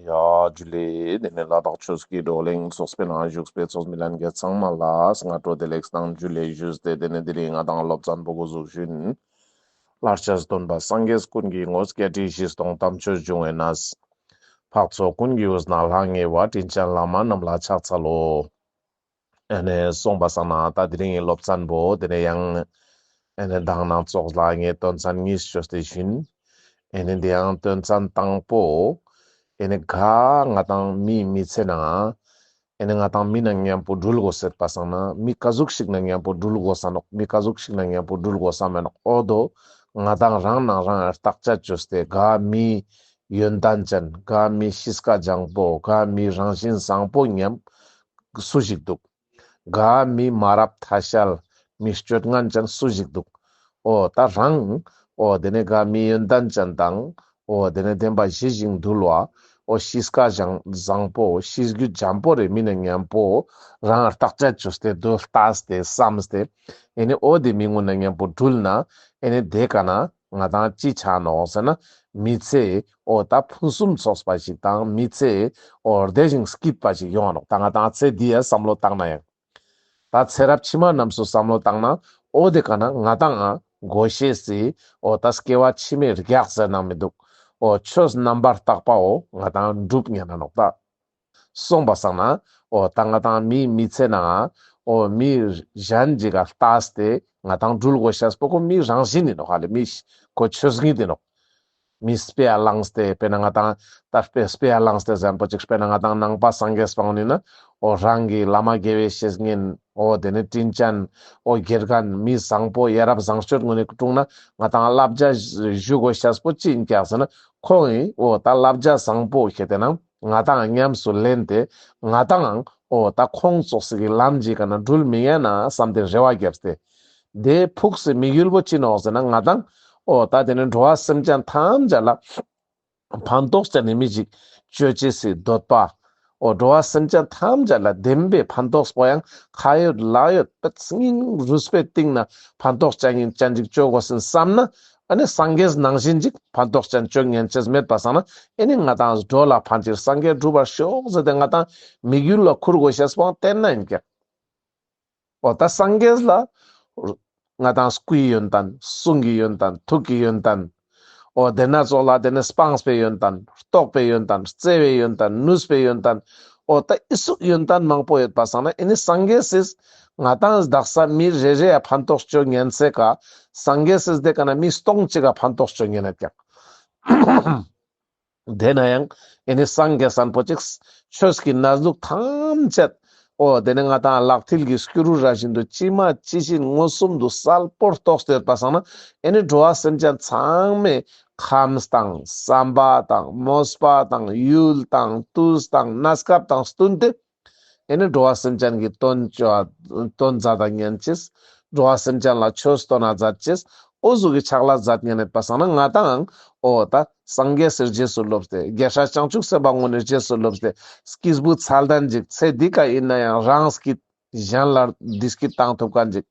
ཡཱ། ཇུ་ལེ། དེ་ནས་ལ་དྭགས་ཆོས་ཀྱི་བགྲོ་གླེང་ཚོགས་པའི་ནང་བཞུགས་པའི་ཚོགས་མི་ལན་བརྒྱད་ཚང་མ་ལ་སྔ་དྲོ་བདེ་ལེགས་དང་ཇུ་ལེ་བཞུགས་ཏེ་དེ་ནས་དེ་རིང་ང་དང་སློབ་ཚན་པོ་སྒོ་གཟུགས་ཤུན། ལར་ཆར་སྟོན་པ་སངས་རྒྱས་ཀུན་གྱི་ངོ་སྐལ་ཁྲི་བཞི་སྟོང་གཏམ་ཆོས་འབྱུང་བའི་ན་བཟའ། འཕགས་ཚོགས་ཀུན་གྱི་དབུ་ཟླ་ལྷ་ལྔའི་བ་དྲིན་ཅན་བླ་མ་རྣམས་ལ་ཕྱག་འཚལ་ལོ། ཨ་ནས་སོང་པ་སང་ན་ད་དེ་རིང་གི་སློབ་ཚན་པོ་དེ་ནས་ཡང་ཨ་ནས་འདང་ན་ཙོག་ལ་ངས་དོན་ཚན་གཉིས་སུ་ཤོད་དེ་བཞིན་ཨ་ནས་འདི་ཡང་དོན་ཚན་དང་པོ་ཨ་ནས་ག་ང་དང་མི་མི་ཚེ་ན་ཨ་ནས་ང་དང་མི་ན་མཉམ་པོ་འགྲུལ་དགོ་ཟེར་པ་སང་ན་མི་ག་ཟུག་ཞིག་ན་མཉམ་པོ་འགྲུལ་དགོ་ས་ནོག་མི་ག་ཟུག་ཞིག་ན་མཉམ་པོ་འགྲུལ་དགོ་ས་མེད་ནོག་ཨོ་དོ་ང་དང་རང་ནང་རང་ཨ་རྟགས་ཆ་ཅོས་ཏེ་ག་མི་ཡོན་ཏན་ཅན་ག་མི་ཤིས་ཀ་ལྗང་པོ་ག་མི་རང་བཞིན་བཟང་པོ་མཉམ་སུ་ཞིག་འདུག། དགའ་མི་མ་རབས་ཐ་ཤལ་མི་སྤྱོད་ངན་ཅན་སུ་ཞིག་འདུག། ཨོ་ད་རང། ཨོ་དེ་ནས་དགའ་མི་ཡོན་ཏན་ཅན་དང། ཨོ་དེ་ནས་བདེན་པ་བཞི་ཞིང་འདུལ་བ། ཨོ་ཤི་སྐ་བཞང་བཟང་པོ་ཤི་རྒྱུ་འཇམ་པོ་རེ་མི་ནས་ངན་པོ། རང་རྟགས་སྤྱད་བཅུ་སྟེ་རྡུལ་བལྟ་སྟེ་བསམ་སྟེ། ཨེ་ནས་ཨོ་དེ་མི་ངོ་ནས་ངན་པོ་སྦྲུལ་ན། ཨེ་ནས་དེ་ག་ན། ང་དང་ཅི་ཆ་ནོ་ཟེར་ན་མི་ཚེ་འོ་ད་ཕུན་སུམ་ཚོགས་པ་ཞིག་དང་མི་ཚེ་འོ་བདེ་ཞིང་སྐྱིད་པ་ཞིག་ཡོང་བ་ནོ་ད་ང་དང་ཚེ་འདི་ཡ་བསམ་བློ་བཏང་ན་ཡང། ད་ཚེ་རབས་ཕྱི་མ་རྣམས་སུ་བསམ་བློ་བཏང་ན་འོ་དེ་ག་ན་ང་དང་ང་དགོས་ཤེས་སྲིད་འོ་ད་སྐྱེ་བ་ཕྱི་མའི་རྒྱག་ཟེར་ནང་མི་འདུག་འོ་ཆོས་རྣམ་པར་དག་པའོ་ང་དང་འགྲུབ་ཉན་ན་ནོག་ད། གསུངས་པ་བསམ་ན། ཨོ་ད་ང་ཐང་མིས་མི་ཚད་ནའང། ཨོ་མིས་གཞན་འཇིག་ག་ལྟ་སྟེ་ང་ཐང་སྦྲུལ་གོ་ཤ་སྤོ་ཁོ་མིས་རང་བཞིན་ནི་ནོ་ཧ་ལས་མི་ཤི་ཁོ་ཆོས་བཞིན་དེ་ནོ། མིས་སྤེ་ཨ་ལངས་སྟེ་སྤེ་ན་ང་ཐང་ད་སྤེ་སྤེ་ཨ་ལངས་སྟེ་བཟན་པོ་ཅིག་སྤེ་ན་ང་ཐང་ནང་པ་སངས་རྒྱས་སྤང་བ་ནི་ནོ། ཨོ་རང་གི་བླ་མ་དགེ་བའི་བཤེས་གཉེན་ཨོ་དེ་ནི་སྤྲིན་ཅན། ཨོ་དགེ་རྒན་མིས་བཟང་པོ་ཡ་རབས་བཟང་སྤྱོད་ངོ་ནས་བཀྲུངས་ན་ང་ཐང་བསླབ་བྱ་བཞུགས་གོ་ཤ་སྤོ་ཅི་ཡིན་སྐྱག་ཟེར་ན་ཁོང་ཨོ་ད་བསླབ་བྱ་བཟང་པོ་ཤེས་དེ་ནང་ང་དང་ཉམས་སུ་ལེན་ཏེ་ང་དང། ཨོ་ད་ཁོང་སོགས་སི་གི་ལམ་གྱིས་ག་ན་འགྲུལ་མི་ཡལ་ན་བསམ་ཏེ་རེ་བ་བརྒྱབ་སྟེ། དེ་ཕུགས་སུ་མིག་ཡུལ་བོ་ཅི་ནོག་ཟེར་ན་ང་དང། ཨོ་ད་དེ་ནི་འགྲོ་བ་སེམས་ཅན་ཐམས་ཅད་ལ། ཕན་ཐོགས་ཀྱང་ནི་མི་འཇིག་གཅོད་བྱེད་སི་འདོད་པ། ཨོ་འགྲོ་བ་སེམས་ཅན་ཐམས་ཅད་ལ་བདེན་པའི་ཕན་ཐོགས་པོ་ཡང་ཁ་ཡོད་ལག་ཡོད་པད་སྙིང་རུས་པའི་སྟེང་ན་ཕན་ཐོགས་ཅན་གྱིས་ཅི་འཇིག་གཅོད་དགོས་སིན་བསམ་ན། ཨ་ནི་སངས་རྒྱས་ནང་བཞིན་ཅིག་ཕ་རྡོག་ཅན་སྤྱོད་ངན་ཅེས་སྨད་པ་བསགས་ན་ཨེ་ནི་ང་དང་འགྲོ་ལ་ཕ་འདིར་སངས་རྒྱས་འགྲུབ་པར་ཤོག་ཟེར་ཏེ་ང་དང་མིག་ཡུལ་ལ་ཁུར་དགོས་ཞེས་བང་སྟེར་ན་ཡིན་གྱི། འོ་ད་སངས་རྒྱས་ལ། ང་དང་སྐུའི་ཡོན་ཏན་གསུང་གི་ཡོན་ཏན་ཐུགས་ཀྱི་ཡོན་ཏན། འོ་དེ་སྣ་ཚོགས་ལ་དེ་ནི་སྤངས་པའི་ཡོན་ཏན་རྟོགས་པའི་ཡོན་ཏན་བརྩེ་བའི་ཡོན་ཏན་ནུས་པའི་ཡོན་ཏན། འོ་ད་ཨི་གཟུགས་ཡོན་ཏན་མང་པོ་ཡོད་པ་བསགས་ན་ཨེ་ནི་སངས་རྒྱས་སིས་ང་དང་བདག་ས་མི་རེ་རེ་ཡ་ཕན་ཐོགས་སྤྱོད་ངན་ཚེ་ག་སང་གེ་སེས་དེ་ག་ན་མི་སྟོང་གཅིག་ག་ཕན་ཐོགས་སྤྱོད་ངན་ཡ་ཀྱང། དེ་ན་ཡང་ཨེ་ནི་སང་གེ་སང་པོ་ཅིག་ཆོས་ཀྱི་ན་ཟུག་ཐམས་ཅད། ཨོ་དེ་ནི་ང་དང་ལག་མཐིལ་གྱི་སྐྱུ་རུ་ར་བཞིན་དུ་ཅི་མ་ཅི་བཞིན་མངོན་སུམ་དུ་གསལ་པོར་རྟོགས་སྟེར་པ་སང་ན་ཨེ་ནི་འགྲོ་བ་སེམས་ཅན་ཚང་མས་ཁམས་དང་བསམ་པ་དང་མོས་པ་དང་ཡུལ་དང་དུས་དང་གནས་སྐབས་དང་བསྟུན་ཏེ། དེ་ནི་འགྲོ་བ་སེམས་ཅན་གྱི་དོན་སྤྱོད་བ་དོན་མཛའ་དང་གཉེན་གྱིས། འགྲོ་བ་སེམས་ཅན་ལ་ཆོས་སྟོན་བ་མཛད་ཀྱིས། ཨོ་གཟུགས་ཀྱི་ཆགས་ལ་མཛད་གཉེན་མེད་པ་སངས་ན་ང་དང། ཨོ་ད། སངས་རྒྱས་གསེར་རྗེས་སུ་སློབ་སྟེ་རྒྱལ་སྲས་བྱང་ཆུབ་སེམས་དཔའ་དངོས་ནི་རྗེས་སུ་སློབ་སྟེ། སྐྱེས་བུ་ཚ་ལྡན་འཇིག་ཚེ་འདི་ཀ་ཡིན་ན་ཡང་རང་སྐྱིད། གཞན་ལ་འདི་སྐྱིད་བཏང་ཐུབ་ཀ་འཇིག།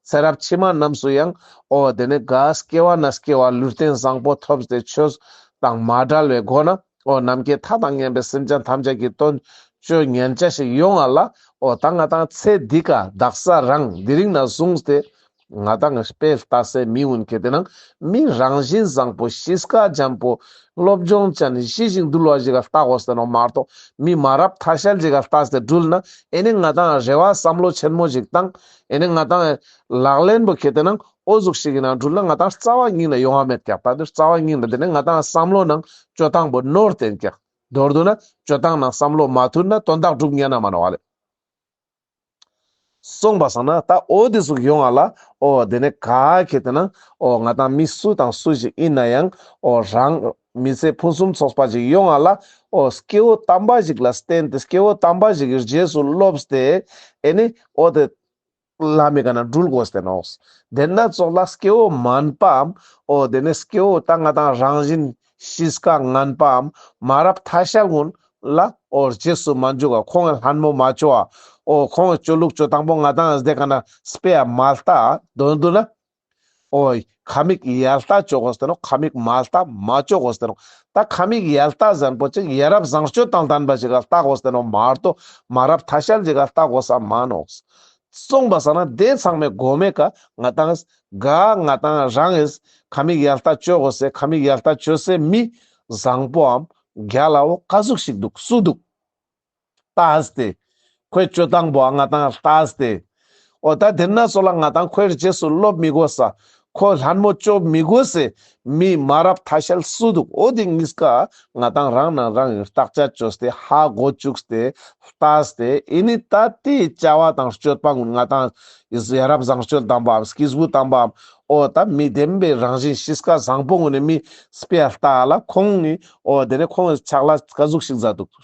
ཚེ་རབས་ཕྱི་མ་རྣམས་སུ་ཡང། ཨོ་དེ་ནི་གཱས་སྐྱེ་བ་ན་སྐྱེ་བ་ལུས་རྟེན་བཟང་པོ་ཐོབ་སྟེ་ཆོས་དང་མ་བྲལ་བའི་སྒོ་ནས། འོ་ནམ་མཁའི་མཐའ་དང་མཉམ་པའི་སེམས་ཅན་ཐམས་ཅད་ཀྱི་ལྟོ་སྤྱོད་ངན་བྱ་ཞིག་ཡོང་ང་ལ་འོ་ད་ང་དང་ཚེ་འདི་ཀ་བདག་ས་རང་འདི་རིང་ན་བཟུང་སྟེ་ང་དང་དཔེ་ལྟ་སའི་མི་འུན་གེ་དེ་ནང་མི་རང་བཞིན་བཟང་པོ་ཤི་སྐ་འཇམ་པོ་སློབ་སྦྱོང་ཅན་ནི་ཤི་ཞིག་འདུལ་བ་ཞིག་ག་ལྟ་གོ་ཟེར་ནོ་མ་རྟོག་མི་མ་རབ་ཐ་ཤལ་ཞིག་ག་ལྟ་ཟེར་སྦྲུལ་ན་ཨེ་ནི་ང་དང་རེ་བ་བསམ་བློ་ཆེན་མོ་ཞིག་བཏང་ཨེ་ནི་ང་དང་ལག་ལེན་པོ་གེ་དེ་ནང་ཨོ་གཟུགས་ཤིག་གི་ནང་དྲུད་ན་ང་དང་རྩ་བ་སྙིང་ལ་ཡོང་བ་མེད་ཀྱང་ད་དུ་རྩ་བ་སྙིང་ལ་འདི་ནས་ང་དང་བསམ་བློ་ནང་སྤྱོད་སྟངས་པོ་ནོར་བསྟན་ཀྱང། མདོར་བསྡུ་ན་སྤྱོད་སྟངས་ནང་བསམ་བློ་མ་མཐུན་ན་དོན་དག་སྒྲུབ་ཉན་ན་མ་ནོར་བ་ལས། གསུངས་པ་བསམ་ན་ད་ཨོ་འདི་གཟུགས་ཡོང་བ་ལ་ཨོ་འདི་ནས་ག་གེ་དེ་ན་ཨོ་ང་དང་མི་སུ་དང་སུ་ཞིག་ཡིན་ན་ཡང་ཨོ་རང། མི་ཚེ་ཕུན་སུམ་ཚོགས་པ་ཞིག་ཡོང་བ་ལ་ཨོ་སྐྱེ་བོ་དམ་པ་ཞིག་ལ་བསྟེན་ཏེ་སྐྱེ་བོ་དམ་པ་ཞིག་གི་རྗེས་སུ་སློབས་ཏེ་ཨེ་ནི་ཨོ་དེ། བླ་མེད་ག་ན་སྦྲུལ་དགོས་བསྟན་ནོ། དེ་སྣ་ཚོགས་ལ་སྐྱེ་བོ་མངས་པའམ། ཨོ་དེ་ནས་སྐྱེ་བོ་ལྟ་ལྔ་དང་རང་བཞིན་གཤིས་དཀའ་ངན་པའམ། མ་རབས་ཐ་ཤལ་སྔོན་ལ་ཨོ་རྗེས་སུ་མ་འཇུག་ག་ཁོང་གི་ལྷ་མོ་མ་བཅོ་བ། ཨོ་ཁོང་གི་སྤྱོད་ལུགས་སྤྱོད་དང་པོ་ང་དང་ཟླས་ག་ན་སྤེལ་མ་ལྟ་དོན་བསྡུ་ན། ཨོའི། ཁ་མིག་ཡལ་ལྟ་ཅོག་བཟས་ནོ་ཁ་མིག་མ་ལྟ་མ་ཅོག་བཟས་ནོ། ད་ཁ་མིག་ཡལ་ལྟ་བཟང་པོ་ཅིག་ཡལ་རབས་བཟང་སྤྱོད་དང་ལྡན་པ་ཞིག་ག་ལྟག་བཟས་ནོ་མར་དོ་མ་རབས་ཐ་ཤལ་ཅིག་ག་ལྟག་བཟས་མ་ནོ། གསུངས་པ་ས་ན་དེ་ཚང་མའི་སྒོ་མེད་ཀ་ང་དང་ཨེས། ག་ང་དང་རང་ཨེས། ཁ་མིག་ཡལ་ལྟ་ཅོག་བཟས་ཁ་མིག་ཡལ་ལྟ་ཅོད་བཟས་མི། བཟང་པོའམ། རྒྱ་ལའོ་ཀ་གཟུགས་ཤིག་འདུག་སུ་འདུག། ལྟ་སྟེ། ཁོས་སྤྱོད་དང་པོ་ང་དང་ལྟ་སྟེ། ཨོ་ད་དེར་ན་སོ་ལ་ང་དང་ཁོའི་རྗེས་སུ་སློབ་མི་དགོས་ས། ཁོས་ལྷ་མོ་སྤྱོད་མི་དགོས་སའི་མིས་མ་རབས་ཐ་ཤལ་སུ་འདུག་ཨོ་དེ་གཉིས་ཀ་ང་དང་རང་ནང་རང་གིས་བརྟག་དཔྱད་བཅོས་སྟེ་ཧ་གོ་བཅུགས་ཏེ་ལྟ་སྟེ་ཨེ་ནི་ད་དེའི་བཅའ་བ་དང་སྤྱོད་པ་ང་དང་ཨིས་ཡ་རབས་བཟང་སྤྱོད་དམ་པའམ་སྐྱེས་བུ་དམ་པའམ་ཨོ་ད་མི་བདེན་པའི་རང་བཞིན་ཤིས་ཀ་བཟང་པོ་ངོ་ནས་མིས་སྤེལ་ལྟ་ལ་ཁོང་ནི་ཨོ་དེ་ནས་ཁོང་གིས་ཕྱག་ལ་བཀའ་ཟུགས་ཤིག་མཛད་འདུག།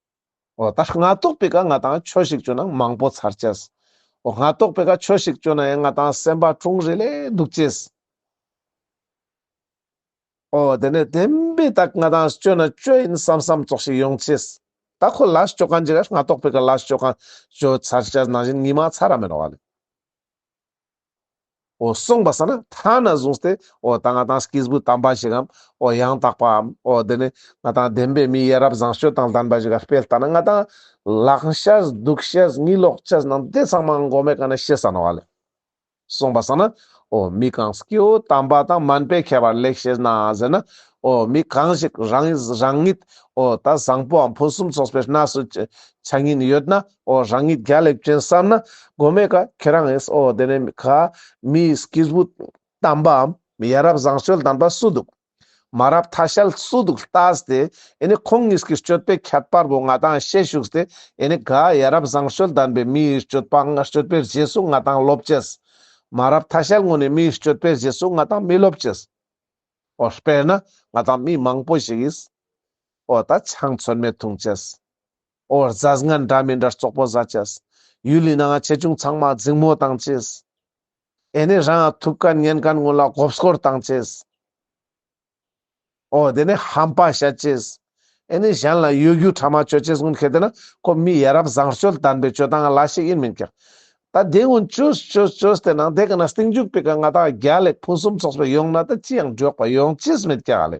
འོ་ད་ང་རྟོགས་པའི་ཀ་ང་དང་ཁྱོད་ཞིག་བཅོས་ན་མང་པོ་ཚར་སྐྱེས། འོ་ང་རྟོགས་པའི་ཀ་ཁྱོད་ཞིག་བཅོས་ན་ཡང་ང་དང་སེམས་པ་དྲུང་རེ་ལས་སྡུག་སྐྱེས། འོ་དེ་ནས་དེ་འདྲའི་དག་ང་དང་བཅོས་ན་བཅོས་ཡིན་བསམ་བསམ་བཙོག་ཞིག་ཡོང་སྐྱེས། ད་ཁོ་ལ་བཅོས་གང་བྱས་ཀ་ང་རྟོགས་པའི་ཀ་ལ་བཅོས་གང་བཅོས་ཚར་སྐྱེས་ནང་བཞིན་ཉི་མ་ཚ་ར་མེད་རོ་བ་ལས། འོ་གསུངས་པ་ས་ན་ཐ་ན་གཟུངས་ཏེ་འོ་ད་ང་དང་སྐྱེས་བུ་དམ་པ་ཞིག་གམ་འོ་ཡང་དག་པའམ་འོ་འདི་ནི་ང་དང་ལྡན་པའི་མི་ཡ་རབས་བཟང་སྤྱོད་དང་ལྡན་པ་ཞིག་ག་དཔེ་ལྟ་ན་ང་དང་ལག་ཤེས་སྡུག་ཤེས་དངུལ་ལོག་ཤེས་རྣམས་དེ་ཚང་མ་མགོ་མེད་ག་ནས་ཤེས་ས་ན་བ་ལས། གསུངས་པ་ས་ན་འོ་མི་གང་སྐྱེ་བོ་དམ་པ་དང་མན་པའི་ཁྱད་པར་ལེགས་ཤེས་ན་ཟེར་ན་འོ་མི་གང་ཞིག་རང་ཉིད་འོ་ད་བཟང་པོའམ་ཕུན་སུམ་ཚོགས་པའི་གནས་སུ་ཆ་ཉིད་ཡོད་ན་ཨོ་རང་ཉིད་རྒྱ་ལེབ་ཅན་བསམ་ན་དགོས་མེད་ཀ་ཁྱེད་རང་ཨེས་ཨོ་དེ་ནས་མི་ཁ་མིའི་སྐྱིས་བུ་གཏམ་པའམ་ཡ་རབས་བཟང་སྤྱོད་ལྡན་པ་སུ་འདུག་མ་རབས་ཐ་ཤལ་སུ་འདུག་ལྟ་སྟེ་ཨེ་ནས་ཁོང་གཉིས་ཀྱི་སྤྱོད་པའི་ཁྱད་པར་བོ་ང་དང་ཤེས་བཞུགས་ཏེ་ཨེ་ནས་ག་ཡ་རབས་བཟང་སྤྱོད་ལྡན་པའི་མིའི་སྤྱོད་པ་སྤྱོད་པའི་རྗེས་སུ་ང་དང་སློབ་ཅེས། མ་རབས་ཐ་ཤལ་ངོ་ནས་མིའི་སྤྱོད་པའི་རྗེས་སུ་ང་དང་མི་སློབ་ཅེས། ཨོ་དཔེར་ན་ང་དང་མི་མང་པོ་ཞིག་ཨེས་ཨོ་ད་ཆང་མཚོན་མེད་འཐུང་ཅེས། ཨོ་རྫ་རྔ་འདྲ་མི་འདྲ་ཙོག་པོ་བཟའ་བྱས། ཡུལ་ལི་ན་ང་ཆེ་ཆུང་ཚང་མ་རྫིང་མོ་བཏང་བྱས། ཨེ་ནས་རང་ཡང་ཐུབ་ཀ་ཉན་ཀ་སྔོན་ལ་སྒོབ་སྐོར་བཏང་བྱས། ཨོ་དེ་ནས་ཧམ་པ་བྱས་བྱས། ཨེ་ནས་གཞན་ལ་ཡོད་རྒྱུ་ཕྲ་མ་བཅོལ་བྱས་སྔོན་གལ་ཏེ་ན་ཁོ་མི་ཡ་རབ་བཟང་སྤྱོད་ལྡན་པའི་སྤྱོད་སྟངས་ལ་ཞིག་ཡིན་མིན་ཀྱང། ད་དེ་སྔོན་བཅོས་བཅོས་བཅོས་ཏེ་ནང་དེ་ག་ན་སྟེང་འཇུག་པའི་ཀ་ང་ད་རྒྱ་ལེགས་ཕུན་སུམ་ཚོགས་པའི་ཡོང་ན་ད་ཅི་ཡང་འགྲོགས་པ་ཡོང་བྱས་མེད་ཀྱང་ཨ་ལེ།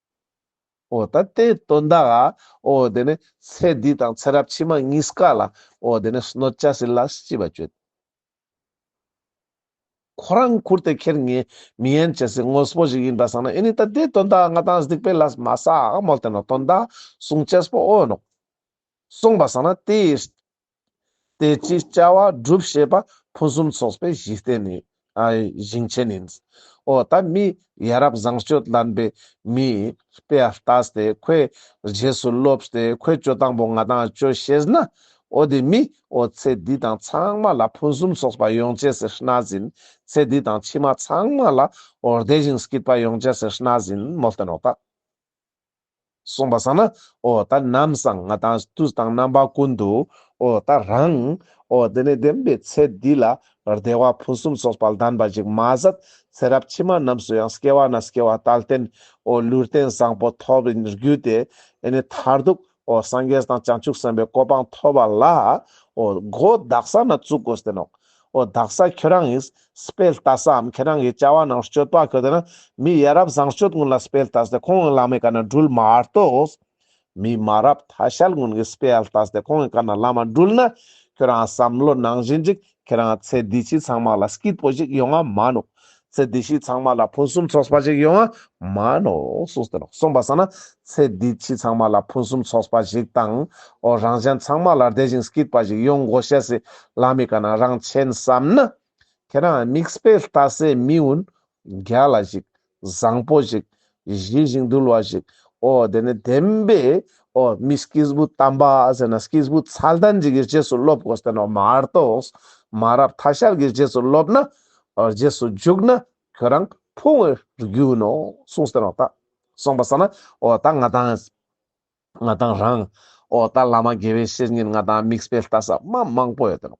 འོ་ད་དེ་སྟོན་ད་ཨ། འོ་དེ་ནས་ཚེ་འདི་དང་ཚེ་རབས་ཕྱི་མ་གཉིས་ཀ་ལ་འོ་དེ་ནས་གནོད་བྱ་སྲིད་ལ་ཤི་བ་གཅོད། ཁོ་རང་ཁུར་ཏེ་ཁྱེར་ངེས་མི་ཡན་བྱེད་སྲིད་དངོས་པོ་ཞིག་ཡིན་པ་བསམ་ན་ཨེ་ནི་ད་དེ་སྟོན་ད་ཨ་ང་དང་སྡིག་པའི་ལ་མ་ས་ཨ་མོལ་དེ་ནོ་སྟོན་ད་ཨ་གསུང་བྱེད་པོ་འོ་ནོ། གསུངས་པ་བསམ་ན་དེ། དེ་ཕྱིར་བཅའ་བ་སྒྲུབ་ཤེས་པ་ཕུན་སུམ་ཚོགས་པའི་གཞི་རྟེན་ནི། བཞེངས་ཆེན་ནི། ཨོ་ད་མི་ཡ་རབས་བཟང་སྤྱོད་ལྡན་པའི་མི། པས་བལྟས་ཏེ་ཁོའི་རྗེས་སུ་སློབས་ཏེ་ཁོའི་སྤྱོད་དང་པོ་ང་དང་སྤྱོད་ཤེས་ན། ཨོ་དེ་མི་ཨོ་ཚེ་འདི་དང་ཚང་མ་ལ་ཕུན་སུམ་ཚོགས་པ་ཡོང་བྱས་ཟེར་སྣ་ཟིན། ཚེ་འདི་དང་ཕྱི་མ་ཚང་མ་ལ་ཨོ་བདེ་ཞིང་སྐྱིད་པ་ཡོང་བྱས་ཟེར་སྣ་ཟིན་མོ་བསྟན་རོགས་ད། གསུངས་པ་སང་ན། ཨོ་ད་ནམ་སང་ང་དང་ཏུ་དང་རྣམ་པ་ཀུན་ཏུ། ཨོ་ད་རང། ཨོ་དེ་ནས་བདེན་པའི་ཚེ་འདི་ལ། བདེ་བ་ཕུན་སུམ་ཚོགས་པ་ལྡན་པ་ཅིག་མ་ཟད། ཚེ་རབས་ཕྱི་མ་རྣམས་སུ་ཡང་སྐྱེ་བ་ན་སྐྱེ་བ་ལྟར་བརྟེན། ཨོ་ལུས་རྟེན་བཟང་པོ་ཐོབ་རྒྱུ་དེ། ཨེ་ནས་མཐར་ཐུག། འོ་སངས་རྒྱས་དང་བྱང་ཆུབ་སེམས་དཔའི་གོ་འཕང་ཐོབ་པ་ལ། འོ་སྒོ་བདག་ས་ན་བཙུག་གོ་ཟེར་ནོ། འོ་བདག་ས་ཁྱོད་རང་ཡིས་སྤེལ་བལྟ་སའམ་ཁྱོད་རང་གིས་བཅའ་བ་རྣམས་སྤྱོད་པ་གོ་དེ་ན་མི་ཡ་རབས་བཟང་སྤྱོད་ཀུན་ལ་སྤེལ་བལྟ་སྟེ་ཁོང་གི་བླ་མའི་བཀའ་ན་སྦྲུལ་མ་གཏོགས། མི་མ་རབས་ཐ་ཤལ་ཀུན་གྱིས་སྤེལ་བལྟ་སྟེ་ཁོང་གི་བཀའ་ན་བླ་མ་སྦྲུལ་ན། ཁྱོད་རང་བསམ་བློ་ནང་བཞིན་ཅིག་ཁྱེད་རང་ཚེ་འདི་ཕྱི་ཚང་མ་ལ་སྐྱིད་པོ་ཞིག་ཡོང་བ་མངའ་ནོ། ཚེ་འདི་ཕྱི་ཚང་མ་ལ་ཕུན་སུམ་ཚོགས་པ་ཞིག་ཡོང་བ་མངའ་ནོ། གསུངས་ཟིན་ནོ། གསུངས་པ་ཟ་ན་ཚེ་འདི་ཕྱི་ཚང་མ་ལ་ཕུན་སུམ་ཚོགས་པ་ཞིག་དང། འོ་རང་གཞན་ཚང་མ་ལ་བདེ་ཞིང་སྐྱིད་པ་ཞིག་ཡོང་དགོས་བཤད་སྲིད་ལ་མི་དགའ་ན་རང་མཁྱེན་བསམ་ན། ཁྱེད་རང་དམིགས་བསལ་ལྟ་སའི་མི་འུན་རྒྱ་ལ་ཞིག་བཟང་པོ་ཞིག། བཞེས་ཤིང་འདུལ་བ་ཞིག། ཨོ། དེ་ནས་དེང་པས། ཨོ། མི་སྐྱེས་བུ་དམ་པ་ཟེར་ན་སྐྱེས་བུ་ཚལ་དང་འཇིག་གི་རྗེས་སུ་སློབ་གོ་ཟེར་ན་མ་གཏོགས། མ་རབས་ཐ་ཤལ་གྱི་རྗེས་སུ་སློབ་ན། རྗེས་སུ་འཇུག་ན་ཁྱོད་རང་ཕུང་བའི་རྒྱུན་ནོ་གསུངས་ཟེར་བ་དག། གསུངས་པ་ཟེར་ན། ཨོ་ད་ང་དང། ང་དང་རང། ཨོ་ད་བླ་མ་དགེ་བའི་བཤེས་གཉེན་ང་དང་དམིགས་སྤེལ་ལྟ་ས་དམའ་མང་པོ་ཡོད་དེ་རང།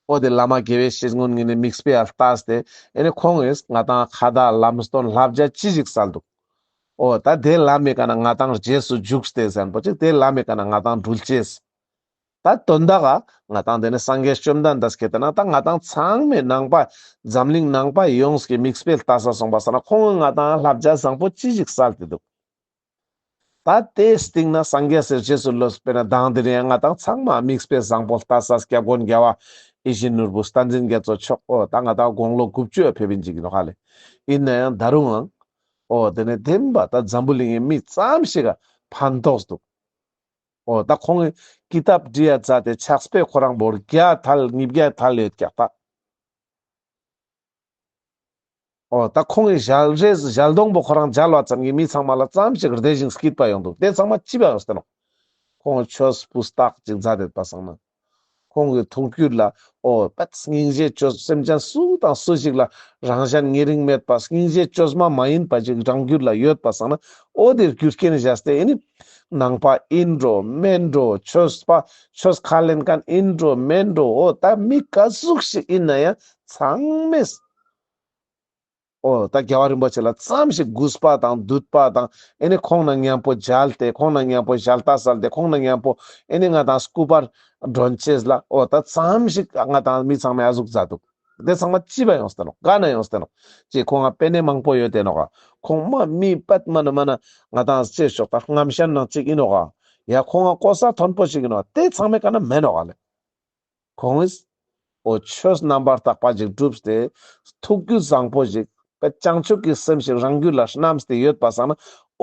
ཨོ་དེ་བླ་མ་དགེ་བའི་བཤེས་གཉོན་ངེད་ནས་དམིགས་སྤེལ་ཨ་ལྟ་སྟེ་ཨེ་ནས་ཁོང་ངེས་ང་དང་ཁ་བརྡ་ལམ་སྟོན་ལྷ་བརྒྱ་ཅི་ཞིག་བསལ་འདུག་ཨོ་ད་དེ་བླ་མའི་ག་ན་ང་དང་རྗེས་སུ་འཇུག་སྟེ་གཟན་པོ་ཅིག་དེ་བླ་མའི་ག་ན་ང་དང་འདྲུལ་སྐྱེས་སི། ད་དོན་དག་ཨ་ང་དང་དེ་ནས་སངས་རྒྱས་བཅོམ་ལྡན་འདས་སྐད་དེ་ན་ད་ང་དང་ཚང་མས་ནང་པ། འཛམ་གླིང་ནང་པ་ཡོངས་ཀྱིས་དམིགས་སྤེལ་ལྟ་ས་སོང་པ་ས་ན་ཁོང་ངེས་ང་དང་ཨ་ལྷ་བརྒྱ་བཟང་པོ་ཅི་ཞིག་བསལ་དེ་འདུག་ད་ལྟའི་སྟེང་ན་སངས་རྒྱས་སེར་བྱེས་སུ་ལོས་དཔེར་ན་བདག་འདི་རེད་ང་དང་ཚང་མ་དམིགས་སྤེལ་བཟང་པོ་ལྟ་ས་སྐྱབས་མགོན་རྒྱལ་བ་ཨེ་ཤི་ནོར་བུ་རྟ་འཛིན་རྒྱལ་མཚོ་མཆོག་ཨོ་ད་ང་དང་དགུང་ལོ་དགུ་བཅུ་ཕེབས་ཡིན་གཅིག་གི་ནོ་ཧ་ལེ་ཡིན་ན་ཡང་ད་རུང་ཨང་ཨོ་དེ་ནས་དེང་པ་ད་འཛམ་བུ་གླིང་གི་མི་ཙམ་ཞིག་ག་ཕན་ཐོགས་སུ་འདུག་ཨོ་ད་ཁོང་གི་ཀི་ཏཱབ་བྲི་ཡ་ཛ་དེ་ཆགས་པས་ཁོ་རང་བོར་བརྒྱ་ཐལ་གཉིས་བརྒྱ་ཐལ་ཡོད་ཀྱག་ད། འོ་ད་ཁོང་གིས་ཞལ་རས་ཞལ་སྡོང་པོ་ཁོ་རང་སྦྱར་བ་ཙམ་གྱིས་མི་ཚང་མ་ལ་ཙམ་ཞིག་རྡེག་ཅིང་སྐྱིད་པ་ཡོང་འདུག་དེ་ཚང་མ་ཅི་བ་ཨོ་སྟེ། ཁོང་ཆོས་སྤུ་སྟག་ཅིག་མཛའ་དེད་པ་བཟང་ན། ཁོང་གི་ཐུགས་བསྐྱུད་ལ་ཨོ་པད་སྙིང་རྗེ་ཆོས་སེམས་ཅན་སུ་དང་སུ་ཞིག་ལ་རང་གཞན་ཉེ་རིང་མེད་པ་སྙིང་རྗེ་ཆོས་མ་མ་ཡིན་པ་ཞིག་རང་རྒྱུད་ལ་ཡོད་པ་བཟང་ན་ཨོ་དེར་རྒྱུ་རྐྱེན་བཞག་སྟེ་ཨེ་ནི། ནང་པ་ཨིན་འགྲོ་སྨན་འགྲོ་ཆོས་པ་ཆོས་ཁ་ལེན་མཁན་ཨིན་འགྲོ་སྨན་འགྲོ་ཨོ་ད་མི་ག་ཟུག་ཞིག་ཨིན་ན་ཡང་ཚང་མས། ཨོ་ད་རྒྱལ་བ་རིན་པོ་ཆེ་ལ་ཙམ་ཞིག་གུས་པ་དང་འདུད་པ་དང་ཨེ་ནས་ཁོང་ན་སྙན་པོ་བརྒྱལ་ཏེ་ཁོང་ན་སྙན་པོ་བཞལ་ལྟ་བསལ་ཏེ་ཁོང་ན་སྙན་པོ་ཨེ་ནས་ང་དང་སྐུ་པར་སྒྲོན་བཅས་ལ་ཨོ་ད་ཙམ་ཞིག་ང་དང་མི་ཚང་མས་ཨ་གཟུགས་མཛའ་འདུག་དེ་ཚང་མ་ཅི་བ་ཡོང་སྟེ་ནོ་ག་ན་ཡོང་སྟེ་ནོ་ཅེས་ཁོང་ང་པེ་ནས་མང་པོ་ཡོད་དེ་ནོ་ག་ཁོང་མ་མི་པད་མ་ན་མ་ན་ང་དང་བཅས་ཞོག་ད་རྔམ་ཞན་ནང་གཅིག་ཡིན་ནོ་ག་ཡ་ཁོང་ང་ཀོ་ས་མཐོན་པོ་ཞིག་ཡིན་ནོ་ག་དེ་ཚང་མས་ག་ན་མེད་ནོ་ག་ལས། ཁོངས་ཨོ་ཆོས་རྣམ་པར་དག་པ་ཞིག་བསྒྲུབས་ཏེ། ཐུགས་རྒྱུད་བཟང་པོ་ཞིག་དཔེ་བྱང་ཆུབ་ཀྱི་སེམས་ཞིག་རང་རྒྱུད་ལ་བསྣམས་ཏེ་ཡོད་པ་བསམ་ན།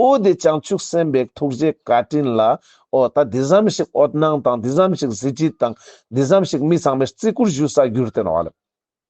ཨོ་འདི་བྱང་ཆུབ་སེམས་དཔའི་ཐུགས་རྗེའི་བཀའ་དྲིན་ལ། ཨོ་ད་འདི་ཙམ་ཞིག་འོད་སྣང་དང་འདི་ཙམ་ཞིག་གཟི་བརྗིད་དང་འདི་ཙམ་ཞིག་མི་ཚང་མའི་བརྩི་བཀུར་ཞུ་ས་གྱུར་ཏེ་ནོ།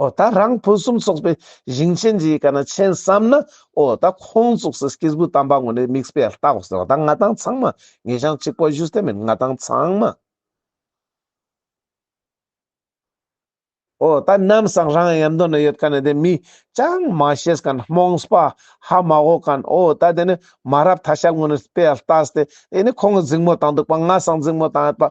ཨོ་ད་རང་ཕུན་སུམ་ཚོགས་པའི་ཞིང་ཆེན་གྱི་ཡི་ག་ན་མཆན་བསམ་ན་ཨོ་ད་ཁོང་ཚོགས་སུ་སྐྱེས་བུ་དམ་པ་ངོ་ནས་མིག་སྤེལ་ལྟ་གོ་ཟེར་བ་ད་ང་དང་ཚང་མ་ངེད་ཞང་གཅིག་པོ་གཞུ་སྟེ་མིན་ང་དང་ཚང་མ། ཨོ་ད་ནམ་སང་རང་ཡར་མདོ་ན་ཡོད་ཀ་ནས་དེ་མི་ཅང་མ་ཤེས་ག་ན་རྨོངས་སྤ་ཧ་མ་གོ་ག་ནས་ཨོ་ད་དེ་ནས་མ་རབ་ད་ཤལ་ངོ་ནས་སྤེལ་ལྟ་ཟེ་དེ་ནས་ཁོང་གི་རྫིང་མོ་དང་འདུག་པ་ང་སང་རྫིང་མོ་དང་ཡོད་པ་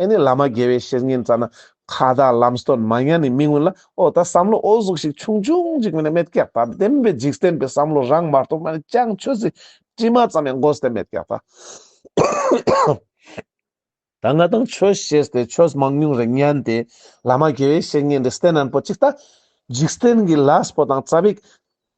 ཨེ་ནི་བླ་མ་དགེ་བའི་བཤེས་གཉེན་རྩ་ན་ཁ་དག་ལམ་སྟོན་མ་ཉན་ནི་མི་མངོན་ལ་ཨོ་ད་བསམ་བློ་ཨོ་གཟུགས་ཤིག་ཆུང་ཆུང་ཅིག་མིན་ནི་མེད་ཀྱག་དང་ལྡན་པའི་འཇིག་རྟེན་པའི་བསམ་བློ་རང་མ་རྟོགས་ན་ནི་ཅང་ཆོས་སྲིད་དྲི་མ་ཙམ་ཡང་མགོ་སྟེ་མེད་ཀྱག་དང། ད་ང་དང་ཆོས་ཤེས་ཏེ་ཆོས་མང་ཉུང་རེ་ཉན་ཏེ་བླ་མ་དགེ་བའི་བཤེས་གཉེན་འདི་སྟེ་ནན་པོ་ཅིག་ལྟ། འཇིག་རྟེན་གྱི་ལ་སྤོ་དང་རྩ་བིག།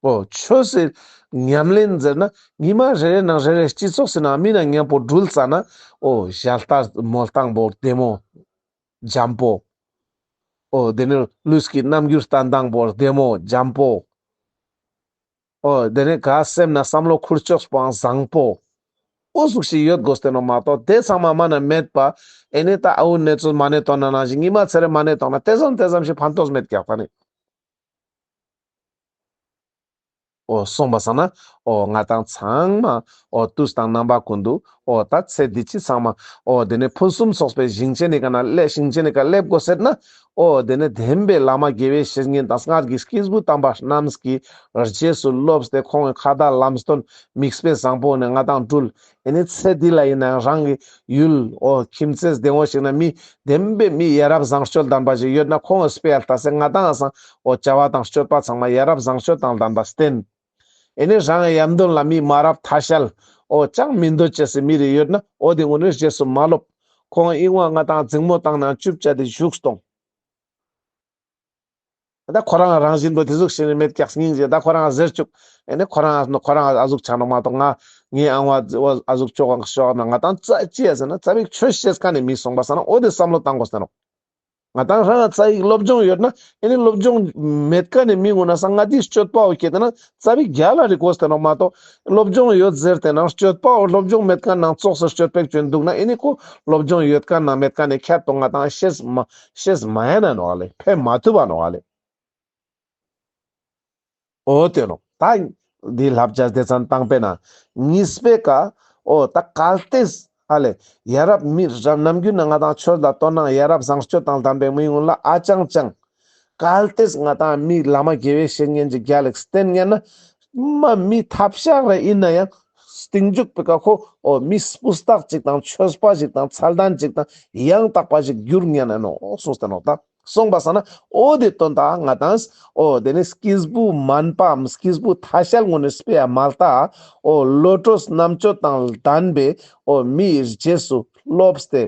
པོ་ཆོས་སྲིད་ཉམས་ལེན་མཛད་ན་ཉི་མ་རེ་རེ་ནང་རེ་རེ་སྤྱི་ཚོགས་སྲིད་ནང་མི་རྣམས་ངན་པོ་སྦྲུལ་རྩ་ནའོ་བཞའ་རྟ་མོ་སྟངས་པོ་བདེ་མོ་འཇམ་པོ། ཨོ་དེ་ནས་ལུས་ཀྱི་རྣམ་འགྱུར་ལྟ་མདངས་པོ་བདེ་མོ་འཇམ་པོ། ཨོ། དེ་རིང་ག་སེམས་ན་བསམ་བློ་འཁུར་ཕྱོགས་སྤང་བཟང་པོ། ཨུ་གཟུགས་ཤིག་ཡོད་དགོས་བསྟན་ནོ་མ་གཏོགས་དེ་ཚང་མ་མ་ན་མེད་པ། ཨེ་ནས་ད་ཨ་འུ་ནེ་ཚོས་མ་ནས་དོ་ན་ནང་བཞིན་གཉིད་མ་ཚེ་རེ་མ་ནས་དོག་ན་དེ་ཙམ་དེ་ཙམ་ཞིག་ཕན་ཐོགས་མེད་ཀྱག་ད་ནི། ཨོ་གསུངས་པ་བསམ་ན་ཨོ་ང་དང་ཚང་མ་ཨོ་ཏུས་དང་རྣམ་པ་ཀུན་ཏུ་ཨོ་ད་ཚེ་འདི་ཕྱི་ཚང་མ་ཨོ་དེ་ནས་ཕུན་སུམ་ཚོགས་པའི་ཞིང་ཆེན་ནི་ག་ན་སླེབས་ཞིང་ཆེན་ནི་ག་སླེབས་དགོས་ཟེར་ན་ཨོ་དེ་ནི་དེམ་པའི་བླ་མ་དགེ་བའི་བཤེས་གཉེན་དང་སྔར་གྱི་སྐྱེས་བུ་དམ་པ་རྣམས་ཀྱིས་རྗེས་སུ་སློབས་ཏེ་ཁོང་གི་ཁ་བརྡ་ལམ་སྟོན་དམིགས་དཔེ་བཟང་པོ་ནི་ང་དང་སྤྲུལ་ཨེ་ནི་ཚེ་འདི་ལ་ཡིན་ནའང་རང་གི་ཡུལ་ཨོ་ཁྱིམ་མཚེས་སྡེ་ངོ་ཞིག་ན་མི་དེམ་པའི་མི་ཡ་རབས་བཟང་སྤྱོད་ལྡན་པ་ཞིག་ཡོད་ན་ཁོང་གི་སྤེལ་ལྟ་སེ་ང་དང་སང་ཨོ་བྱ་བ་དང་སྤྱོད་པ་ཚང་མ་ཡ་རབས་བཟང་སྤྱོད་དང་ལྡན་པ་སྟེན། ཨེ་ནས་རང་ཡབ་མདུན་ལ་མི་མ་རབས་ཐ་ཤལ། ཨོ་ཅང་མི་འདོད་ཅེས་སེ་མི་རེ་ཡོད་ན་ཨོ་དེ་ངོ་ནས་རྗེས་སུ་མ་སློབ། ཁོང་དབྱིངས་དབང་ལྔ་དང་རྫིང་མོ་དང་ནང་བཅུ་བཅའ་དེ་བཞུགས་སྟོང། ད་ཁོ་རང་རང་བཞིན་དུ་དེ་གཟུགས་ཤིང་རི་མེད་སྐྱག་སྙིང་རྗེ་ད་ཁོ་རང་ཟེར་བཅུག་ཨེ་ནས་ཁོ་རང་ཁོ་རང་ཨ་གཟུགས་ཆགས་འགྲོ་མ་གཏོགས་ང་ངའི་ཨང་བ་ཨོ་ཨ་གཟུགས་ཅོག་ང་ཤོག་ང་དང་རྩ་གཅིག་ཡ་ཟེར་ན་རྩ་བའི་ཆོས་བཤད་ཀ་ནས་མི་གསུངས་པ་ཟེར་ན་ཨོ་དེ་བསམ་བློ་བཏང་དགོས་ཟེར་རོགས། ང་དང་ལྷ་ང་རྩ་ཡིག་སློབ་སྦྱོང་ཡོད་ན་ཨེ་ནི་སློབ་སྦྱོང་མེད་ཀ་ནས་མི་ངོ་ན་ས་ང་དེའི་སྤྱོད་པའོ་སྐྱེ་དེ་ན་རྩ་བའི་རྒྱ་ལ་རིག་གོ་ཟེར་ནོ་མ་གཏོགས་སློབ་སྦྱོང་ཡོད་ཟེར་དེ་ན་སྤྱོད་པའོ་སློབ་སྦྱོང་མེད་ཀ་ན་ཙོག་ཟེར་སྤྱོད་པའི་སྐྱོན་འདུག་ན་ཨེ་ནི་གོ་སློབ་སྦྱོང་ཡོད་ཀ་ན་མེད་ཀ་ནས་ཁྱད་དོ་ང་དང་ཤེས་མ་ཤེས་མ་ཡ་ན་ནོ་ག་ལེ་ཕན་མ་ཐུབ་པ་ནོ་ག་ལེ། ཨོ་སྟོན་ནོ། ད་འདི་བསླབ་བྱ་སྡེ་ཚན་དང་པའི་ནང་ངེས་སྤེལ་དཀའ། ཨོ་ད་གལ་ཏེ། ཨ་ལས། ཡ་རབས་མི་རབས་ནམ་རྒྱུན་ན་ང་དང་ཁྱོད་ལ་དོ་སྣང་ཡ་རབས་བཟང་སྤྱོད་དང་དམ་པའི་དམིགས་ཡུལ་ལ་ཨ་ཅང་ཅང། གལ་ཏེ་ང་དང་མི་བླ་མ་དགེ་བའི་བཤེས་གཉེན་གྱི་རྒྱ་ལེགས་བསྟེན་ངེས་ན། མ་མི་ཐབས་ཤག་རེ་ཡིན་ན་ཡང། གཏིང་འཇུག་པའི་བཀའ་ཁོ་ཨོ་མི་སྤུ་སྟག་ཅིག་དང་ཆོས་པ་ཞིག་དང་ཚལ་དན་ཅིག་དང་ཡང་དག་པ་ཞིག་འགྱུར་ངེས་ན་ནོ་སོ་སྟོན་ནོ། ད། གསུངས་པ་ཟ་ན་ཨོ་དེ་དོན་དག་ང་དང། ཨོ་དེ་ནི་སྐྱེས་བུ་མཱན་པའམ་སྐྱེས་བུ་ཐ་ཤལ་ངོ་ནས་སྤེལ་བ་མ་ལྟ། ཨོ་བློ་གྲོས་རྣམ་དཔྱོད་དང་ལྡན་པའི་ཨོ་མི་ཡི་རྗེས་སུ་སློབ་སྟེ།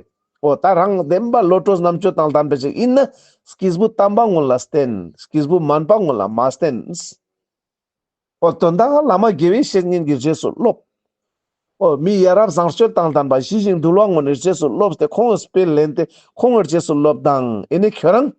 ཨོ་ད་རང་བདེན་པ་བློ་གྲོས་རྣམ་དཔྱོད་དང་ལྡན་པ་ཞིག་ཡིན་ན། སྐྱེས་བུ་དམ་པ་ངོ་ལ་བསྟེན། སྐྱེས་བུ་མཱན་པ་ངོ་ལ་མ་བསྟེན། ཨོ་དོན་དག་བླ་མ་དགེ་བའི་བཤེས་གཉེན་གྱི་རྗེས་སུ་སློབས། ཨོ་མི་ཡ་རབས་བཟང་སྤྱོད་དང་ལྡན་པ་ཞི་ཞིང་དུལ་བ་ངོ་ནས་རྗེས་སུ་སློབས་ཏེ་ཁོང་གི་སྤེལ་ལེན་དེ་ཁོང་ངོར་རྗེས་སུ་སློབས་དང་ཨེ་ནི་ཁྱོད་རང།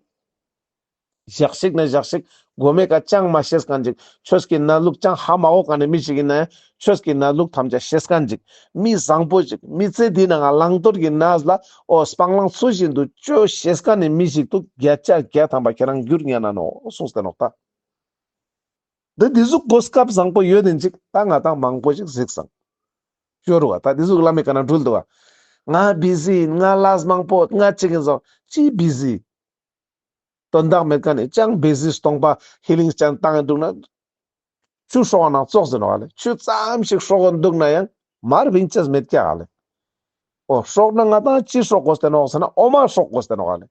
བཞག་ཤིག་ན་བཞག་ཤིག་དགོས་མེད་ཀ་ཅང་མ་ཤེས་ཀ་འཇིག་ཁྱོད་ཀྱི་ན་ལུགས་ཅང་ཧ་མ་གོ་ག་ནས་མི་ཞིག་ཡིན་ན་ཡང་ཁྱོད་ཀྱི་ན་ལུགས་ཐམས་ཅད་ཤེས་ཀ་འཇིག་མི་བཟང་པོ་ཞིག་མི་ཚེ་འདི་ན་ང་བླང་དོར་གྱི་ན་བཟླ་ཨོ་སྤང་བླང་ཚུལ་བཞིན་དུ་སྤྱོད་ཤེས་ཀ་ནས་མི་ཞིག་ཏུ་བརྒྱ་ཆ་བརྒྱ་ཐམ་པ་ཁྱེད་རང་འགྱུར་ཉན་ན་ནོ་གསུངས་ཟེར་ནོག་ད། འདི་འདི་གཟུགས་གོ་སྐབས་བཟང་པོ་ཡོད་ནི་འཇིག་ད་ང་དང་མང་པོ་ཞིག་གཟིགས་སམ། ཤོར་བ་ད་འདི་གཟུགས་བླ་མེད་ག་ན་འགྲུལ་འདུག་བ། ང་བཟི་ཡིན་ང་ལགས་མང་པོ་ང་གཅིག་ཡིན་བཟང་ཅིས་བཟི། དོན་དག་མེད་ག་ནས་ཅང་བཟི་སྟོང་པ་ཧི་ལིང་ཅན་བཏང་ཡིན་འདུག་ན། ཆུ་ཧྲོག་ནང་ཙོག་ཟིན་བ་ལས་ཆུ་ཙམ་ཞིག་ཧྲོག་གི་འདུག་ན་ཡང་མར་བིང་ཅེས་མེད་ཀྱ་ག་ལས། ཨོ་ཧྲོག་ན་ང་དང་ཅི་ཧྲོག་གོ་ཟེར་ན་འོག་ཟེར་ན་ཨོ་མ་ཧྲོག་གོ་ཟེར་ན་ག་ལས།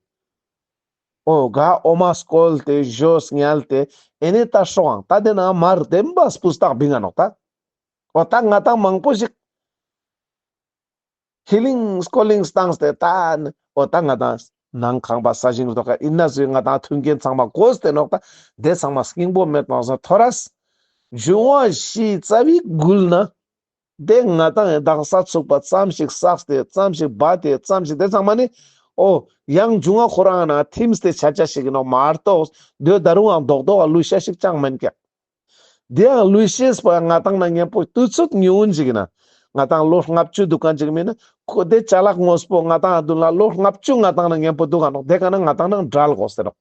ཨོ་དགའ་ཨོ་མ་སྐོལ་ཏེ་བཞོས་བསྙལ་ཏེ་ཨེ་ནས་ད་ཧྲོ་ཨང་ད་དེ་ན་མ་རུ་དེ་འབའ་སྤུ་སྟག་བི་ང་ནོག་ད་ཨོ་ད་ང་ད་མང་པོ་ཞིག་ཧི་ལིང་སྐོ་ལིང་སྟངས་ཏེ་ད་ནི་ཨོ་ད་ང་ད་ནང་ཁང་པ་ས་ཞིང་རུ་ཐོག་ཁ་ཨི་ན་སུའི་ང་ད་ཐུན་རྒན་ཚང་མ་གོས་ཏེ་ནོག་ད་དེ་ཚང་མ་སྐྱིང་པོ་མེ་ཏོང་སོ་ཐོ་ར་སི་བཞུ་བ་ཞིའི་རྩ་བའི་དགུལ་ན། དེ་སྔ་དང་ཡང་དག་ས་ཚུགས་པ་ཙམ་ཞིག་བསགས་ཏེ་ཙམ་ཞིག་སྦ་དེ་ཙམ་ཞིག་དེ་ཚང་མ་ནི། ཨོ། ཡང་འབྱུང་བ་ཁོ་རང་ན་ཐིམས་ཏེ་བྱ་བྱ་ཞིག་ཡིན་ནོ་མ་གཏོགས་ཟློས་ཟླ་རུའང་ལྡོག་ལྡོག་ག་ལུས་ཤ་ཞིག་ཅང་མིན་ཀྱང། དེའང་ལུས་ཤེས་པ་ང་དང་ན་གཉེན་པོ་དུས་ཚོད་ཉི་འུ་འཇིག་ན། ང་དང་ལོ་ལྔ་བཅུ་འདུག་ག་འཇིག་མིན་ན། ཁོ་དེ་བྱ་གླག་དངོས་པོ་ང་དང་ཨ་བདུན་ལ་ལོ་ལྔ་བཅུ་ང་དང་ན་གཉེན་པོ་འདུག་ག་འདོགས་དེ་ག་ན་ང་དང་ན་འདྲ་ལགོ་ཟེར་རོགས།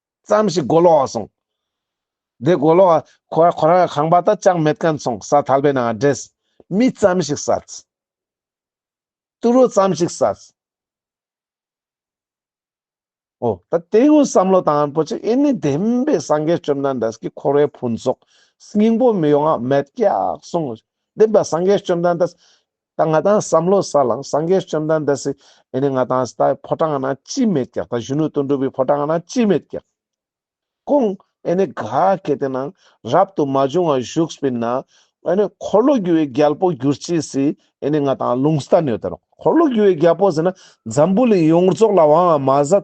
ཙམ་ཞིག་སྒོ་ལོགས་སོང། དེ་སྒོ་ལོགས་ཁོ་ར་ཁོ་ར་ཁང་པ་དག་ཅང་མེད་ཀན་སོང་ས་ཐལ་པའི་ནང་འདྲེས། མི་ཙམ་ཞིག་བསད། ཏུ་རོ་ཙམ་ཞིག་བསད། ཨོ་ད་དེའི་འོས་བསམ་བློ་དང་པོ་ཆེ་ཨེ་ནི་བདེན་པའི་སངས་རྒྱས་བཅོམ་ལྡན་འདས་ཀྱི་འཁོར་བའི་ཕུན་ཚོགས་སྙིང་པོ་མི་ཡོང་ང་མེད་སྐྱག་སོང། བདེན་པའི་སངས་རྒྱས་བཅོམ་ལྡན་འདས། ད་ང་དང་བསམ་བློ་ས་ལངས་སངས་རྒྱས་བཅོམ་ལྡན་འདས་སི་ཨེ་ནི་ང་དང་སྟྭའི་ཕོ་བྲང་ན་ཅིས་མེད་ཀྱག་ད་གཞོན་ནུ་དོན་གྲུབ་བའི་ཕོ་བྲང་ན་ཅིས་མེད་ཀྱག། ཀུན་ཨེ་ནི་ག་གེ་དེ་ནང་རབ་ཏུ་མ་བྱུང་བ་བཞུགས་པའི་ན་ཨེ་ནི་འཁོར་ལོ་རྒྱུ་བའི་རྒྱལ་པོ་གྱུར་ཅིག་སི་ཨེ་ནི་ང་དང་ལུང་སྟྭ་ནོས་དེ་རོ་འཁོར་ལོ་རྒྱུ་བའི་རྒྱལ་པོ་ཟེར་ན་འཛམ་བུ་གླིང་ཡོངས་རྫོགས་ལ་དབང་བ་མ་ཟད་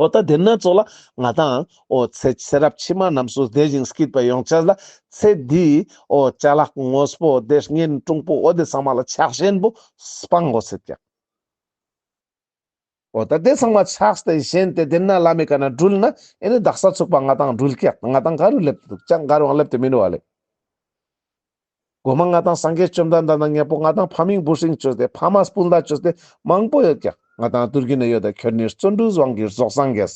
ཨོ་ད་དེ་སྣ་ཚོགས་ལ་ང་དང། ཨོ་ཚེ་ཚེ་རབས་ཕྱི་མ་རྣམས་སུ་བདེ་ཞིང་སྐྱིད་པའི་ཡོངས་ཆད་ལ། ཚེ་འདི། ཨོ་བྱ་ལག་དངོས་པོ་བདེ་སྙན་ཀྲུང་པོ་ཨོ་དེ་ཚང་མ་ལ་ཕྱག་ཞེན་པོ་སྤང་གོ་ཚེ་ཀྱང། ཨོ་ད་དེ་ཚང་མ་ཕྱག་སྟེ་ཞེན་ཏེ་དེ་ན་བླ་མའི་བཀའ་ན་སྦྲུལ་ན་ཨེ་ནི་བདག་ས་ཚུགས་པ་ང་དང་སྦྲུལ་སྐྱག་ང་དང་ག་རུ་སླེབས་ཏེ་འདུག་ཀྱང་ག་རུའང་སླེབས་ཏེ་མི་འགྲོ་བ་ལས། སྒོ་མ་ལྔ་དང་སངས་རྒྱས་བཅོམ་ལྡན་འདས་དང་མཉེས་པོ་ལྔ་དང་ཕ་མིང་བུ་ཧྲེང་བཅོས་ཏེ་ཕ་མ་སྤུན་ཟླ་བཅོས་ཏེ་མང་པོ་ཡོད་ཀྱང་ང་དང་སྟུར་གྱི་ནི་ཡོད་དོ་ཁྱོད་ནི་བརྩོན་འགྲུས་དབང་གིས་རྫོགས་སངས་རྒྱས།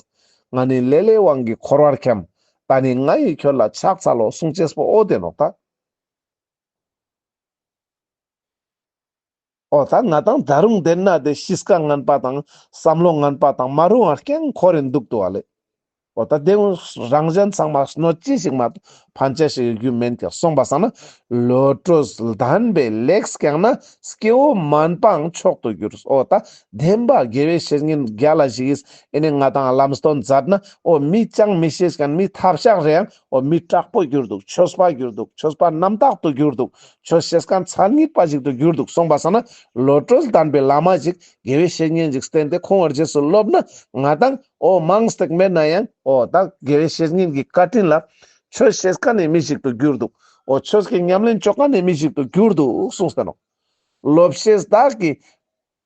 ང་ནི་ལས་ལས་དབང་གིས་འཁོར་བར་འཁྱམས། ད་ནི་ང་ཡིས་ཁྱོད་ལ་ཕྱག་འཚལ་ལོ་གསུང་བྱས་སྤོ་བོ་དེ་ནོ་ད། ཨོ་ད་ང་དང་ད་རུང་དེ་ན་དེ་ཤིས་ཀ་ངན་པ་དང་བསམ་བློ་ངན་པ་དང་མ་རུང་བ་རྐྱང་འཁོར་རེ་འདུག་ཏུ་བ་ལེ། ཨོ་ད་དེ་སྔོན་རང་གཞན་ཚང་མ་སྣོད་ཅི་ཞིག་མ་གཏོགས་ཕན་ཆད་ཞིག་ཡོད་རྒྱུ་མིན་ཀྱང་གསུངས་པ་བསམ་ན་བློ་གྲོས་ལྡན་པས་ལེགས་རྐྱང་ན་སྐྱེ་བོ་མིན་པའང་མཆོག་ཏུ་གྱུར་ཨོ་ད་བདེན་པ་དགེ་བའི་བཤེས་གཉེན་བརྒྱ་ལ་བཞི་ཡིས་ཨེ་ནས་ང་དང་ལམ་སྟོན་མཛད་ན་ཨོ་མི་སྤྱང་མི་ཤེས་ཀྱང་མི་ཐབས་ཤག་རེའང་འོ་མི་དྲག་པོ་གྱུར་འདུག་ཆོས་སྤ་གྱུར་འདུག་ཆོས་སྤ་རྣམ་དག་ཏུ་གྱུར་འདུག་ཆོས་བཤད་སྐལ་མཚར་རྙིད་པ་ཞིག་ཏུ་གྱུར་འདུག་གསུངས་པ་སོགས་ན་ལོ་གྲོལ་དམ་པའི་བླ་མ་ཞིག་དགེ་བའི་བཤེས་གཉེན་ཞིག་བསྟེན་ཏེ་ཁོང་བར་རྗེས་སུ་སློབ་ན་ང་དང་འོ་མང་སྟེགས་མེད་ན་ཡང་འོ་དག་དགེ་བའི་བཤེས་གཉེན་གྱི་བཀའ་དྲིན་ལ་ཆོས་བཤད་སྐལ་ནི་མི་ཞིག་ཏུ་གྱུར་འདུག་འོ་ཆོས་ཀྱི་ཉམས་ལེན་སྤྱོད་སྐལ་ནི་མི་ཞིག་ཏུ་གྱུར་འདུག་གསུངས་ཟིན་ནོ། སློབ་བཤད་བདག་གིས་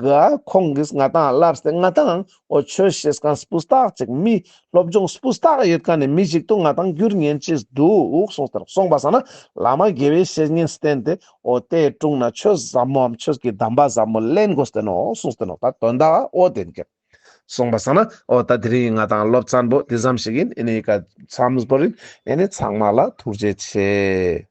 གི་ཁོང་གིས་ང་དང་སླར་སྟེ་ང་དང་ཨོ་ཆོས་ཤེས་གང་སྤུས་རྟགས་གཅིག་མི་སློབ་སྦྱོང་སྤུས་རྟགས་ཡོད་ག་ནས་མི་གཅིག་ཏུ་ང་དང་རྒྱུར་ཉན་གྱིས་འདུག་གསུངས་ཟེར་གསུངས་པ་ཟ་ན་བླ་མ་དགེ་བའི་བཤེས་གཉེན་བསྟེན་ཏེ་ཨོ་དེ་དཀྲུགས་ན་ཆོས་ཟབ་མོའམ་ཆོས་ཀྱི་གདམས་པ་ཟབ་མོ་གླེང་དགོས་བསྟན་ནོ་གསུངས་བསྟན་ནོ་ད་དོན་དག་ཨོ་དེ་འགེབས། གསུངས་པ་ཟ་ན་ཨོ་ད་དེ་རིང་ང་དང་སློབ་ཚན་པོ་དེ་ཙམ་ཞིག་ཡིན་ཨེ་ནི་ཡིག་ག་ཙམ་བོར་ཡིན་ཨེ་ནི་ཚང་མ་ལ་ཐུགས་རྗེ་ཆེ།